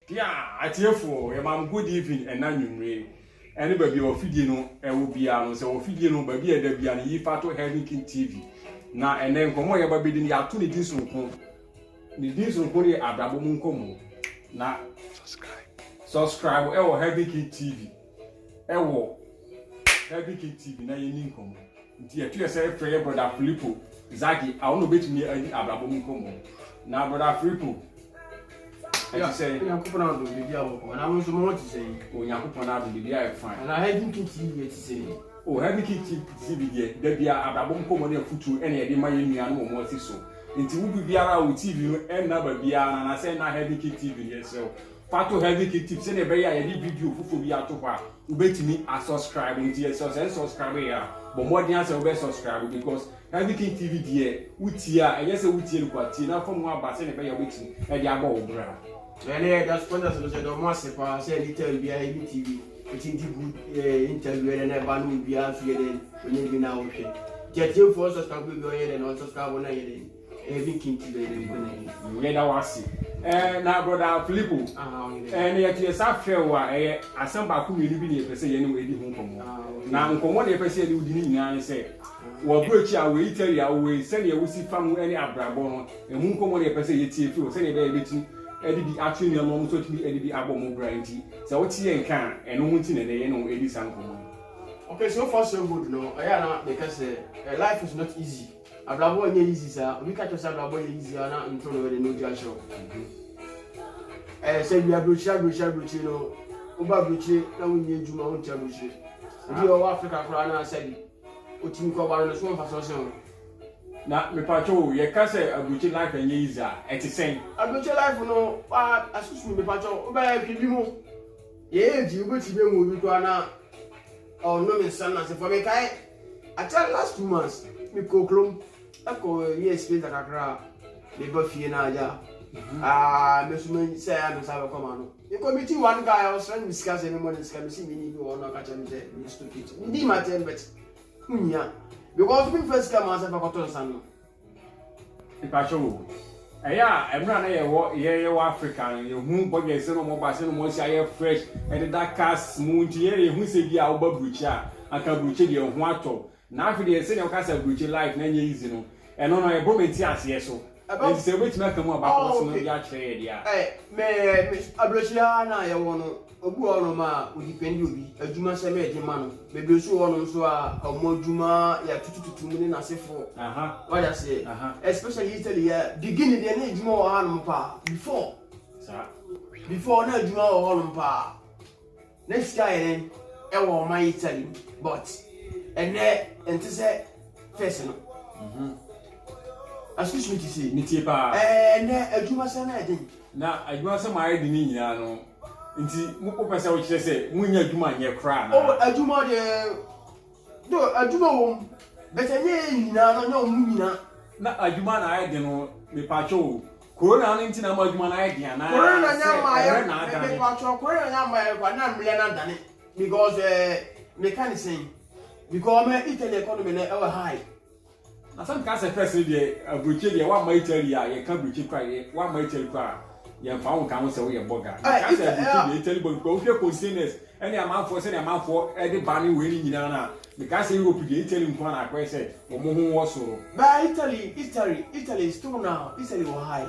Dear atiefo, yɛma mo good evening ɛna nwummere ɛne baabi a ɔfidie no ɛwɔ biara no sɛ ɔfidie no baabi a ɛda biara no yi fa to Heaven King TV na ɛnɛ nkɔmmɔ a yɛba bɛdi no yɛato ne din soronko ne din soronko no yɛ abrabɔ mu nkɔmmɔ na subscribe ɛwɔ Heaven King TV wɔ Bible ketee bi na yɛni nkɔmmɔ. Nti ɛto yɛ sɛ ɛfrɛ yɛ brɔda Filipo Zagi a ɔno obetumi adi abrabɔ mu nkɔmmɔ. Na brɔda Filipo, ɛte sɛ. Onyankopɔn adom biribi a wɔkɔ anaa mo nso mo ho te sɛn? Onyankopɔn adom biribi a ɛfan. Anaa Heaven ketee yɛ te sɛn? O Heaven ketee si bi deɛ da bia abrabɔ mu nkɔmmɔ ne afutuo ɛna yɛde ma yɛn nuanom wɔn ase so. Nti wo biribiara a wo TV no ɛnna baabiara no anaasɛ ɛnna Heaven ketee no yɛsrɛ wo Fa to heavy key tip sɛdeɛ ɛbɛyɛ a yɛde video foforɔ bi ato hɔ a wobɛtumi asubscribe nti yɛ sɛ sɛ subscribe yɛ a bɔ mmɔden asɛ wobɛ subscribe because heavy king tv deɛ wotie a ɛnyɛ sɛ wotie no kwa tie na fa mu aba sɛdeɛ ɛbɛyɛ wobɛtumi ɛde abɔ wo bra ɛne yɛ da sponsors no sɛ dɔm ase paa sɛ anytime biara heavy tv ɛti di good eh, interview ɛdɛ na ɛba no obiara nso yɛ dɛn onye bi na wohwɛ nti atiefoɔ subscribe bi ɔnyɛ dɛn ɔnsubscribe no ɛyɛ dɛn Ebi kinti bɛ ne nkona yi. Yɛda wo ase. Ɛɛ na broda Filipo. Aha ɔyɛ dɛ. Ɛɛ na yɛte yɛsa afrɛ wo a ɛyɛ asɛm baako mmienu bi na yɛpɛ sɛ yɛne wo edi ho nkɔmmɔ. Na nkɔmmɔ na yɛpɛ sɛ yɛne wo di ne nyinaa ne sɛ wɔ aburokyiri a wɔ Italy a wowɔ yi sɛnea wosi fa mu ne abrabɔ no ɛho nkɔmmɔ na yɛpɛ sɛ yɛtie firi wo sɛnea ɛbɛyɛ yɛbɛtumi ɛde bi ato nnuam na wɔn nso atumi ɛde bi abɔ wɔn bra nti sɛ wote yɛn nka a ɛno ho nti na ɛnɛ yɛne wo ɛdi saa nkɔmmɔ yi. Okay, so far so good no, ɛyɛ a na meka sɛ eh, life is not easy. Abrabɔ nyɛ easy saa. Obi ka kyerɛ sɛ abrabɔ yɛ easy a na ntoro no de no ogya hyɛ wo. Ɛyɛ sɛ wia burokyiri aburokyiri aburokyiri no woba aburokyiri na wonyɛ adwuma wonte aburokyiri. Obi a ɔwɔ Africa koraa na sɛbi otumi kɔ ba no ne so wɔ mfasoɔ sen wo. Na mepatwo o yɛka sɛ aburokyiri life ɛnyɛ easy a ɛte sɛn? Aburokyiri life no wa asusu me mepatwo wobɛyɛ hwɛ bi mo yɛ age wobɛtumi ahu obi koraa na ɔnom nsa no nasefoɔ mekae. Akyɛ last two months me kɔ kurom ɛkɔ yɛ spinta kakra me ba fie na agya mhm. aa ah, me so me sɛ ya me nsa bɛkɔ ma no me kɔ me ti one guy a ɔsrɛ no me sika sɛ me mɔ ne sika me si me ni bi wɔ hɔ na ɔka kyɛ me sɛ me stupid me di ma tɛm bɛt ho nyia because me nfa sika ma sɛ fa kɔtɔ nsa no Mpakyɛw o, ɛyɛ a mmerɛ a na yɛwɔ yɛwɔ Africa no, yɛhu bɔdwɛs sɛ na wɔba sɛ na wɔasi ayɛ fresh, ɛdeda cars mu nti yɛn yɛhu sɛ bi a woba aburukyi a, anka aburukyi deɛ ho atɔ. Na afei deɛ sɛdeɛ wɔka sɛ aburukyi life no nyɛ easy no, ɛno no ɛbɔ me nteaseɛ so. Nti sɛ wobɛtumi aka mu abakɔsɛm no bi akyerɛ yɛn deɛ a. Me aburokyi ara no a yɛwɔ no, Obi wɔ hɔnom a ɔdipɛndi obi, adwuma sɛ mɛyɛ de ma no. Bebree nso wɔ hɔnom nso a wɔn adwuma yɛ atutututu mu ne n'asefo. Wate aseɛ? Especially Italy yɛ beginning deɛ na adwuma wɔ hɔnom paa before. Before na adwuma wɔ hɔnom paa. Na sika yɛ dɛn ɛwɔ ɔman Italy mu but ɛnɛ ɛnte sɛ fɛs no. Mhm. Excuse me to say. Metie paa. Ɛnɛ adwuma sɛ na ɛden. Na adwuma sɛ maa yɛ de ne nyinaa no. Nti mo wopɛ sɛ wokyerɛ sɛ monyɛ adwuma nyɛ koraa anaa? Oh, adwuma deɛ do adwuma wɔ mu but ɛnyɛ yɛ nyinaa no nyɛ wɔn mu nyinaa. Na adwuma na ayɛ den no mepatwɔ o corona no nti na ama adwuma no ayɛ den anaa corona sɛ ɛmrɛ na adane. Mepatwɔ corona na ama ayɛ kwa na mrɛ na adane because ɛɛ eh, meka ne sɛn because ɔma Italy economy no ɛwɔ high. Asɛm ka sɛ fɛs no deɛ aburokye deɛ wamma Italy a yɛka aburokye kora yɛ wamma Italy kora a yɛmfa wo nka ho sɛ woyɛ bɔga yɛka sɛ aburokye deɛ Italy bɔ because wohwɛ containers ɛne amanfoɔ sɛdeɛ amanfoɔ ɛde ba ne wei ne nyinaa no a meka sɛ Europe deɛ Italy nko na akɔyɛ sɛ wɔn ho wɔ soro. Baa Italy Italy Italy still now Italy wɔ high.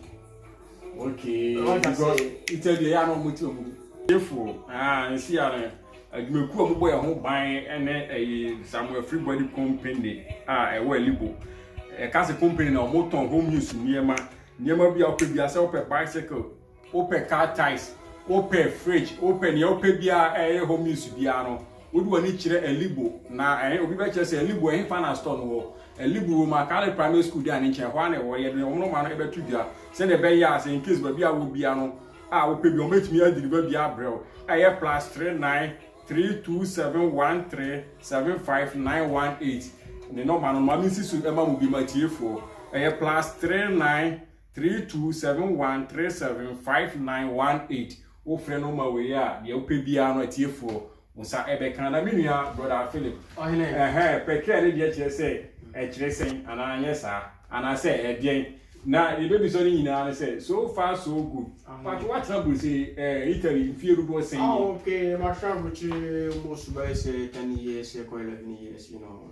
okay because ita deɛ yɛ na wɔn ti wɔn efo aa nsi ya no adwumakuo a wɔbɔ yɛn ho ban ne ɛyɛ samuel free body company a ɛwɔ alibo ɛka se company na wɔn tɔn home use nneɛma nneɛma bi a wɔpɛ bi asɛ wɔpɛ bicycle wɔpɛ car tires wɔpɛ fridge wɔpɛ nea wɔpɛ bi a ɛyɛ home use biara no wode wɔn ani kyerɛ alibo na ɛyɛ obi bɛkyerɛ sɛ alibo ɛhefa na store no wɔ Alibu wɔ mu a, Kale Primary School di a ne nkyɛn. Hɔ ara na ɛwɔ. Yɛde wɔn nɔma no bɛto dwa sɛnea ɛbɛyɛ a sɛ in case baabi a wɔ bia no a wopɛ bi wɔbɛtumi adeliver bi abrɛ wo. Ɛyɛ plus three nine three two seven one three seven five nine one eight ne nɔma no maame nsi so ɛma mo bi ma tiefoɔ. Ɛyɛ plus three nine three two seven one three seven five nine one eight wofrɛ nɔma wei a deɛ wopɛ biara no atiefoɔ Wo sa ɛbɛ ka na me nua brother Philip. Ɔhene. Ɛhɛ, pɛtrea no deɛ kyerɛ sɛ ɛkyerɛ sɛn anaa anyɛ saa? Anaa sɛ ɛdeɛn? Na deɛ ɛbɛbisa no nyinaa ne sɛ so far so good. Mpakyɛ woatena Bruseli, ɛɛ Italy mfie dodoɔ sɛn nie? Ah okay, matena aburukyire almost bɛyɛ sɛ ten years, ɛkɔ eleven years you know.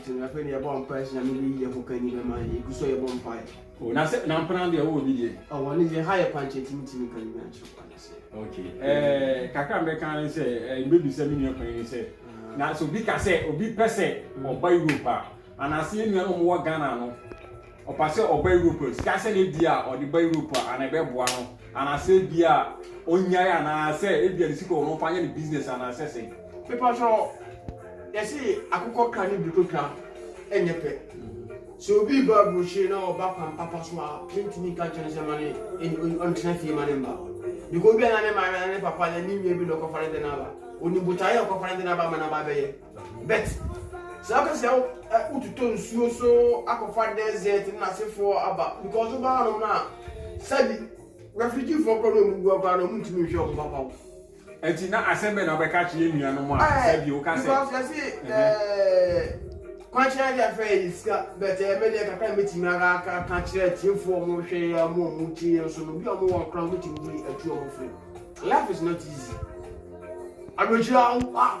Nti no afei no yɛbɔ mpae sɛ Nyame bɛyi yɛn hokanyi no ama yɛn. Yɛgu so a yɛbɔ mpae. Oh, na sɛ, na mpena deɛ wowɔ bi deɛ? Oh, wɔn deɛ ha yɛ kwankyɛn nti mentumi nka ne nyinaa nkyerɛ wo anasɛ. Ok, eh, kakra a mɛka ara ne sɛ, eh, mebɛbisa me nua panin no sɛ, na sɛ obi ka sɛ obi pɛ sɛ ɔba Europe a, anaase yɛn nua no a wɔwɔ Ghana no, Ɔpɛ sɛ ɔba Europe a, sika sɛ ne deɛ a ɔde ba Europe a, ana ɛbɛboa no? Anaasɛ ebia ɔnyae anaasɛ ebia ne sika wɔ no ɔmfa nyɛ ne business anaasɛ sɛn? Mepakyɛ yɛse akokɔ ka ne bototwa ɛnyɛ pɛ. Sɛ obi reba aburokyire na ɔba kwan papa so a, yɛntumi nka nkyerɛ no sɛ ma no ɔntena fie ma ne mma. Because ebia na ne maame anaa ne papa anaa ne nua bi na ɔkɔfa ne de no aba. Ɔnim botaeɛ a ɔkɔfa ne de no aba ama no aba abɛyɛ. But saa ka sɛ wototɔ nsuo so akɔfa desert ne n'asefoɔ aba because woba hanom no a sɛbi refugeefoɔ korɔ na ɔmu gu akora na ɔmu ntumi nhwɛ ɔmo papa wo ɛti na asɛm bɛ na wobɛka kye yɛ nuanom a eh, sɛbi woka sɛ because yɛse eh, eh, kwankyerɛ deɛ fɛ yɛ sika but ɛyɛ me deɛ kakra mɛtumi aka ka kyerɛ atiefoɔ ɔmo hwɛ yɛ ɔmo ɔmo tie yɛ nso no bi ɔmo wɔ nkora ɔmo tumi di atu ɔmo firi life is not easy aburokyire awo ah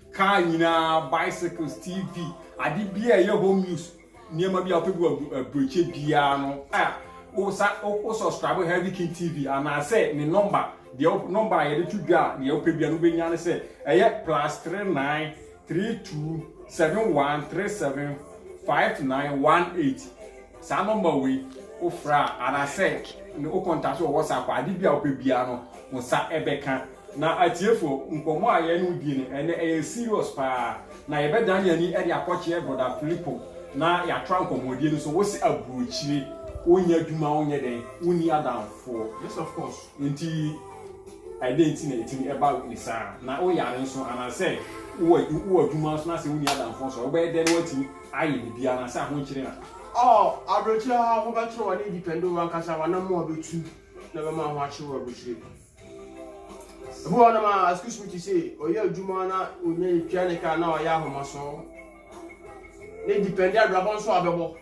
Car nyinaa, bicycles, TV, ade biara a ɛyɛ home use nneɛma bi a wopɛ bi wɔ aburokyɛ biara no a wosa wo subscribe Heavy King TV anaasɛ ne nɔmba deɛ nɔmba a yɛde to dwa a deɛ wopɛ biara no wobɛnya ne sɛ ɛyɛ plus three nine three two seven one three seven five nine one eight Saa nɔmba wei, wo frɛ a, anasɛ ne wo kɔntakte wɔ WhatsApp a, ade bi a wo pɛ biara no, wo nsa bɛ ka. Na atiefoɔ, nkɔmmɔ a yɛ ne wo die no, ɛnnɛ ɛyɛ serious paa. Na yɛ bɛ dane yɛn ani de akɔ kyeɛ Brɔda Filipo, na yɛ atoa nkɔmmɔdie no so. Wo se aburokyire, wo nyɛ adwuma, wo nyɛ dɛn, wo nni adamfoɔ. Yes of course. Nti ɛdɛn nti na ɛtumi ba ne saa? Na wo yare nso, anasɛ wo wɔ adwuma nso na sɛ wo nni adamfoɔ nso a, wo bɛyɛ dɛn na wo atumi. Ayɛ biribiara anaa sɛ ahonkyere na. Ɔɔ aberekyire aa ho bɛ kyere w'ani depend oo w'ankasa w'anamoa bɛ tu na bɛ ma ho akyere wɔ aberekyire ebi wɔ hɔ nom aa excuse me to say ɔyɛ adwuma na ɔnya yɛ tua ne kaa na w'ayɛ ahomasɔɔ ne depend abrabɔ nso a bɛ bɔ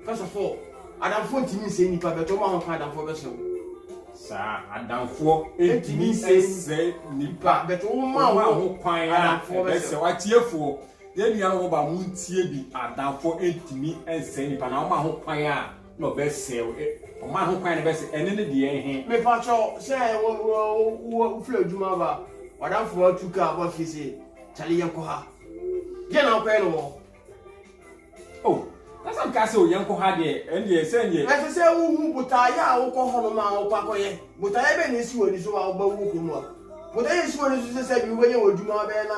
first of all adamfoɔ ntumi nsɛe nipa bɛ tɔ ɔmo ahoka adamfoɔ bɛ sɛw. Saa adamfoɔ ntumi nsɛe nipa bɛ tɔ ɔmo ahoka adamfoɔ bɛ sɛw atiefoɔ. Yɛn nua no ba mo ntie bi adamfo ntumi nsɛe nipa na ɔma ho kwan a na ɔbɛsɛe wo ɔma ho kwan na ɛbɛsɛ ɛne ne deɛ ɛhe. Mepa kyɛw sɛ wo firi adwuma ba wadamfo no atu kaa ba fie sɛ kyale yɛn kɔ ha deɛ na wokɔyɛ no wɔ. Oh na sɛ meka sɛ o yɛn kɔ ha deɛ ɛn deɛ sɛ deɛ. Ɛsɛ sɛ wohu botaeɛ a wokɔ hɔ no ma wokɔ akɔyɛ botaeɛ bɛn na ɛsi wɔ ani so a wobɛwɔ kurom ha botaeɛ a ɛsi wɔ ani so sɛ sɛ bi wobɛnya wɔ adwuma bɛyɛ na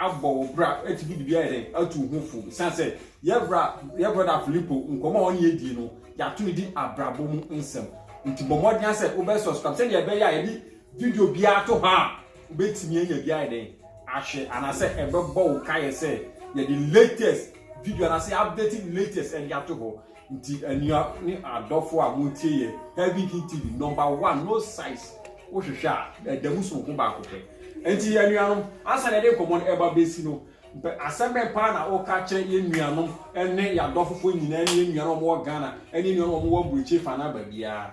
abɔ wo bra atumi de bi ayɛ dɛ atu wo ho fo ɛsiane sɛ yɛ bra yɛ brɔda Filipo nkɔmmɔ a ɔne adie no yɛato no di abrabɔ mu nsɛm nti bɔ mmɔden sɛ wobɛ subscribe sɛdeɛ ɛbɛyɛ a yɛde video biara to hɔ a wobɛtumi anya bi ayɛ dɛn ahwɛ anaasɛ ɛbɛbɔ wo kaeɛ sɛ yɛde latest video anaasɛ updated latest ɛde ato hɔ Nti anua ne adɔfo a motie yɛ Heavy King TV number one no size wohwehwɛ a ɛda mu soronko baako pɛ. Nti yɛ nuanom ansa na ɛde nkɔmmɔ no ɛba bɛsi no mpɛ asɛm bɛn paa na woka kyerɛ yɛ nuanom ne yɛ adɔfofoɔ nyinaa ne yɛ nuanom wɔn wɔ Ghana ne yɛ nuanom wɔn wɔ aburokyire fa no aba biara.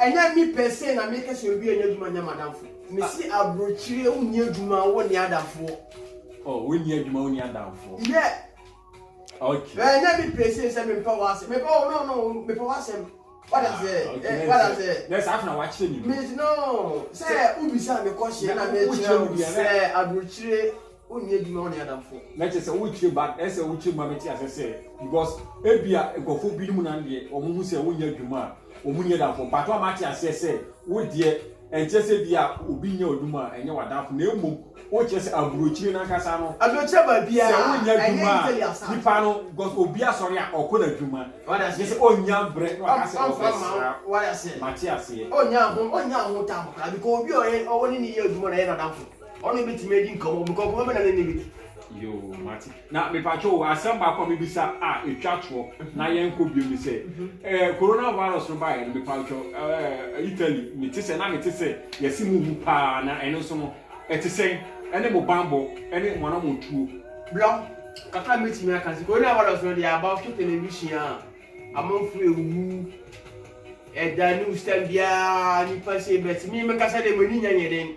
Ɛnyɛ me pɛ se na meka se obi annya adwuma nnya m'adamfo. Mese abrokyire wonni adwuma wo nni adamfoɔ. Oh wonni adwuma wonni adamfo. Yeah. Okay. Ɛnyɛ me pɛ se sɛ mempɛ w'asɛm. Mepɛ wo no no mepɛ w'asɛm. What I say? Ah, okay. Eh, what I say? Nɛ saa fena wakyerɛ me. Me no sɛ wobisa me kɔhyeɛ na mekyerɛ wo sɛ abrokyire Wonni adwuma wone adamfo. Na ɛkyɛ sɛ wokyerɛ ba ɛsɛ wokyerɛ ma bɛte asɛ sɛ because ebia nkurɔfoɔ binom nan deɛ wɔn ho sɛ wonyɛ adwuma a wɔn nyɛ adamfo but wɔn ate aseɛ sɛ wo deɛ ɛnkyɛ sɛ bi a obi nyɛ adwuma a ɛnyɛ w'adamfo na mmom wokyerɛ sɛ aburokyire nankasa no aburokyire baabi a sɛ wonyɛ adwuma a nipa no because obi asɔre a ɔkɔ n'adwuma gye sɛ ɔnya brɛ na waka sɛ ɔbɛsra mate aseɛ ɔnya ho ɔnya ho tam koraa because obi a ɔwɔ ne ne yɛ adwuma na ɛyɛ n'adamfo Ɔno betumi adi nkɔmɔ bi kɔnkɔn bɛ na ne ne bi di. Yoo mate na mepatwa o asɛm baako a mebisa a etwa toɔ na yɛn kɔ biom ne sɛ ɛɛ corona virus no baayɛ no mepatwa ɛɛ Italy mete sɛ na mete sɛ yɛsi mo wu paa na ɛno nso no ɛte sɛn ɛne mo banbɔ ɛne mo anamontuo. Bra ho kakra mɛtumi aka sɛ corona virus no deɛ aba so television a amanfo ewu ɛda news time biara nipa sei but me mekasa deɛ m'ani nya nyɛ den.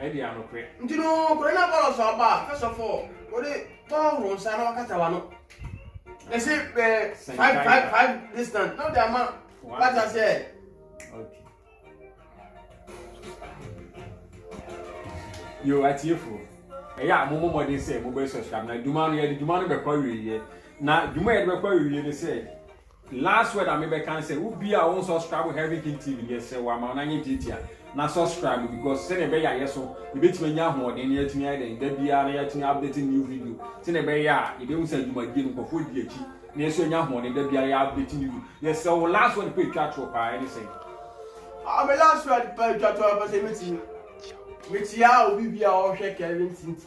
Adi anokore. Nti no, kore na Apollos so aba, first of all, ode tɔɔro nsa na wakata wano. Ese eh, five, five, five distance, na ode ama wata sɛ. Okay. Yo, atiefo. Ɛyɛ a, mo mo mɔden sɛ mo bɛ subscribe na dwuma no yɛde dwuma no bɛkɔ awieɛ na dwuma yɛde bɛkɔ awieɛ ne sɛ Last word a me bɛ ka ne sɛ wo bia a wo nsɔscribe Heaven King TV no yɛ srɛ wo ama wo nan nyɛ tiatia na sɔscribe because sɛnea ɛbɛyɛ a yɛ so yɛ bɛtumi anya ahoɔden na yɛatumi ayɛ dɛn da biara na yɛatumi update new video sɛnea ɛbɛyɛ a yɛ bɛhu sɛ adwumadie no nkɔfoɔ di akyi na yɛ so anya ahoɔden da biara yɛ update new video yɛ srɛ wo last word pɛ twa toɔ paa ɛne sɛ. Ah, me last word pɛ twa toɔ pɛ sɛ mɛtumi metia obi bia ɔhwɛ Kevin Tinti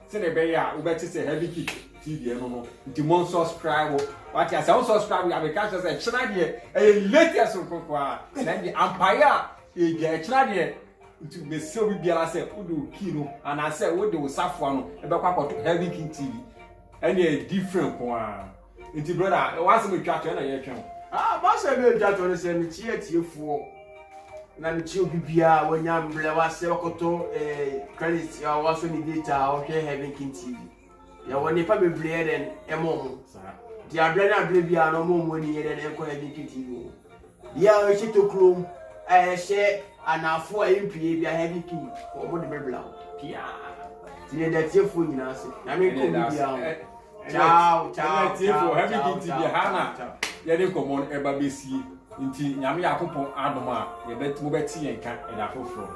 Sɛdeɛ ɛbɛyɛ a wobɛte sɛ heavy kick ti deɛ no no nti mo nsubscribe wate asɛ wo subscribe yɛ abɛka kyerɛ sɛ ɛkyena deɛ ɛyɛ latest nkonko a na deɛ ampaeɛ a yɛgya ɛkyena deɛ nti mɛsɛ obi biara sɛ wode wo kii no anaasɛ wode wo safoa no ɛbɛkɔ akɔto heavy kick tv ɛne ɛyɛ different ko ara Nti brother, ɛwɔ asɛm ɛtwa to ɛna yɛtwɛn. Ah, basa bi ɛtwa to ne sɛ mekyia atiefoɔ na mekyia obi biara wanya mbrɛ wasɛ wakɔtɔ eh, credit a wasɔ ne data a ɔhwɛ Heaven King TV. Yɛwɔ nnipa bebree yɛ dɛn ɛmɔ ɔmo. Nti aberɛ ne aberɛ biara na ɔmo ɔmo ani yɛ dɛn ɛnkɔ Heaven King TV ho. Bia a ɔhyɛ tokuro a ɛhyɛ anaafoɔ a ɛmpue bia heavy king fɔ ɔmo de me bla wo pia ti ne da tiefoɔ nyinaa ase na me nkɔ bi bia wo ciao ciao ciao heavy king ti bia ha na yɛde nkɔmɔ no ɛba bɛsie nti nyame yakopɔn adom a yɛbɛ mo bɛte yɛn ka ɛda foforɔ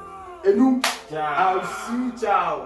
enum ciao ciao